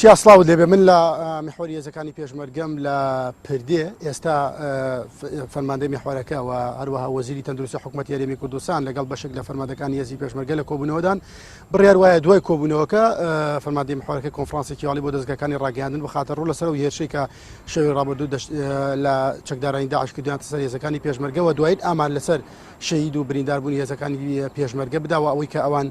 چیا سڵاوت لێبێ من لە میحوەری هێزەکانی پێشمەرگەم لە پردێ ئێستا فەرماندەی میحوارەکە و هەروەها وەزیری تەندروستی حکوومەت یاریمی کوردستان لەگەڵ بەشێک لە فەرمادەکانی هێزی پێشمەرگە لە کۆبوونەوەدان بڕیار وایە دوای کۆبوونەوەکە فەرمادی میحوارەکە کۆنفرانسێکی واڵی بۆ دەستگەکانی ڕاگەاندن بخاتە ڕوو لەسەر و هێرشی کە شەوی ڕابردوو لە چەکدارانی داعش کردیان سەر هێزەکانی پێشمەرگەوە دوایت ئامار لەسەر شەید و برینداربوونی هێزەکانی پێشمەرگە بداوە ئەوەی کە ئەوان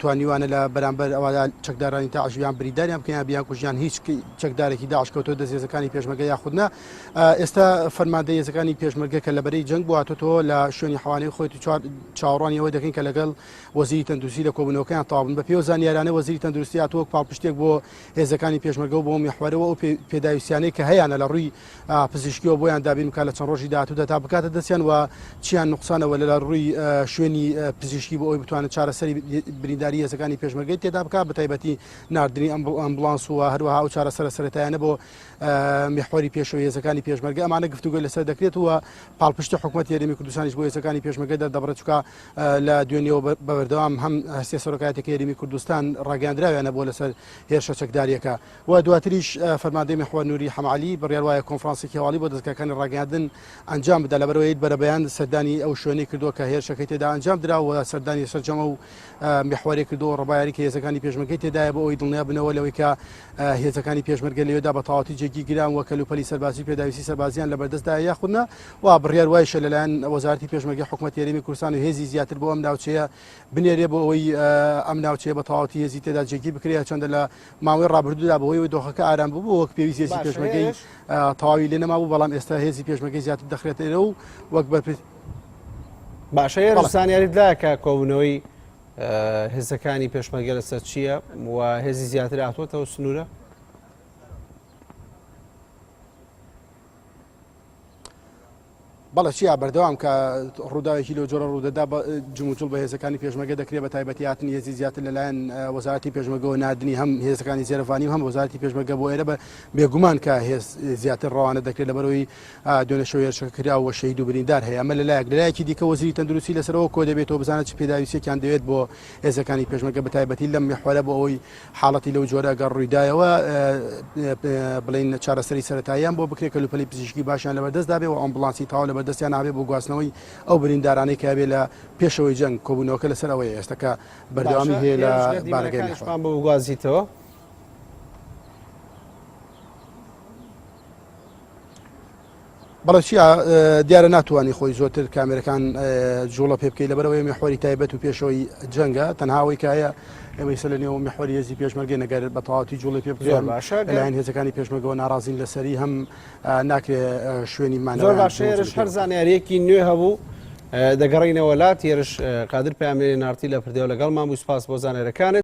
توانیوانە لە بەرامبەر ئەوەدا چەکدارانی داعش یان بریداریان بکەن یان بیانکوژیان هیچ چەکدارێکی داعش کەوتۆ دەست هێزەکانی پێشمەرگە یاخود نا ئێستا فەرماندە هێزەکانی پێشمەرگە کە لە بەرەی جەنگ بواتۆ لە شوێنی حوانەی خۆی چاوەڕوانی ئەوە دەکەین کە لەگەڵ وەزیری تەندروستی لە کۆبوونەوەکەیان تاوابن بە پێوە زانیارانە وەزیری تەندروستی هاتووە پاڵپشتێک بۆ هێزەکانی پێشمەرگە بۆ میحوەرەوە ئەو پێداویستیانەی کە هەیەە لە ڕووی پزیشکیەوە بۆیان دابین بکات لە چەند ڕۆژی داهاتوودا تا بکاتە دەستیان و چیان نقصانەوە لە ڕووی شوێنی پزیشکی بۆ ئەوی بتوانن چارەسەری برینداری هێزەکانی پێشمەرگەی تێدا بکات بە تایبەتی نردنی ئەم ئەمبلانس و هەروەها و چارەسەرە سەرەتایانە بۆ میحوەری پێشەوە هێزەکانی پێشمەرگە ئەمانە گفتوگوی لەسەر دەکرێت و پاڵپشتی حکوومەت یاریمی کوردستانیش بۆ هێزەکانی پێشمەگە دەردەبڕە چکە لە دوێنیەوە بەبەردەوام هەم هەستێ سەرۆکاتێکی یاریمی کوردستان ڕاگەاندراویانە بۆ لەسەر هێرشە چەکداریەکە و دواتریش فەرماندەی میحوەر نوری حەمەعەلی بڕیار وایە کۆنفرانسێکی هەواڵی بۆ دەزگاکانی ڕاگەیاندن ئەنجام بدا لەبەرەوەی بەرەبەیان سەردانی ئەو شوێنەی کردووە کە هێرشەکەی تێدا ئەنجام درا و سەردانی سەرجەمە و میحوەرێ کردو ڕبایاری کە هێزەکانی پێشمەرگەی تێدایە بۆ ئەوی دڵنیا بنەوە لەوەی کە هێزەکانی پێشمەرگە لەوێدا بە تەواوەتی جێگی گران و کەلوپەلی سەربازی پێداویستی سەربازیان لە بەردەستدا یاخودنا و بڕیار وایشە لەلایەن وەزارەتی پێشمەرگەی حکوومەت هێرێمی کوردستان و هێزی زیاتر بۆ ئەم ناوچەیە بنێرێ بۆ ئەوەی ئەم ناوچەیە بە تەواوەتی هێزی تێدا جێگیر بکرێت چەندە لە ماوەی ڕابردوودا بەوەی و دۆخەکە ئارام بوو وەک پێویست هێزی پێشمەگەی تەواوی لێ نەمابوو بەڵام ئێستا هێزی پێشمەگەی زیاتر دەخرێتەرە و وەک بەر باشە هێرش زانیاریت لا کە کۆبوونەوەی هێزەکانی پێشمەگە لەسەر چییە و هێزی زیاتر هاتووەتەوە سنوورە بەڵێ چیا بەردەوام کە ڕووداوێکی لەو جۆرە ڕوودەدا بە جموجوڵ بە هێزەکانی پێشمەگە دەکرێت بە تایبەتی هاتنی هێزی زیاتر لەلایەن وەزارەتی پێشمەگەوە نردنی هەم هێزەکانی زێرەڤانی و هەم وەزارەتی پێشمەگە بۆ ئێرە بە بێگومان کە هێز زیاتر ڕەوانە دەکرێت لەبەرەوەی دوێنەشەوە هێرشەکە کرا و شەهید و بریندار هەیە ئەمە لەلایەک لەلایەکی دیکە وەزیری تەندروستی لەسەرەوە کۆ دەبێتەوە بزانە چ پێداویستێکیان دەوێت بۆ هێزەکانی پێشمەگە بە تایبەتی لەم میحوەرە بۆ ئەوەی حاڵەتی لەو جۆرە ئەگەر ڕوویدایەوە بڵین چارەسەری سەتاییان بۆ بکرێت کەلوپەلی پزیشکی باشیان لە بەدەستدابێ و ئۆمبلانسی تاوا لە بەدەستیان نابێ بۆ گواستنەوەی ئەو بریندارانەی کەبێ لە پێشەوەی جەنگ کۆبوونەوەکە لەسەر ئەوەی ئێستەکە بەردەوامی هەیە لە بارەکەیشمان بۆ بگوازیتەوە. بەڵێ چیا دیارە ناتوانانی خۆی زۆرتر کامێرەکان جوڵە پێ بکەی لەبەرەوەی میحوەری تایبەت و پێشەوەی جەنگە تەنهاوەی کایە ئێمەی سەر لە نێو میحوەری هێزی پێشمەرگێ نەگەر بە تەواتی جوڵی پێ بکەن باشە لەلایەن هێزەکانی پێشمەگەوە ناڕازین لەسەری هەم ناکرێ شوێنی مان زۆر باشێرش هەر زانیارێکی نوێ هەبوو دەگەڕینەوە لا تێرش قادر پامێری نارتی لە پردێو لەگەڵ مامووی سپاس بۆ زانێرەکانت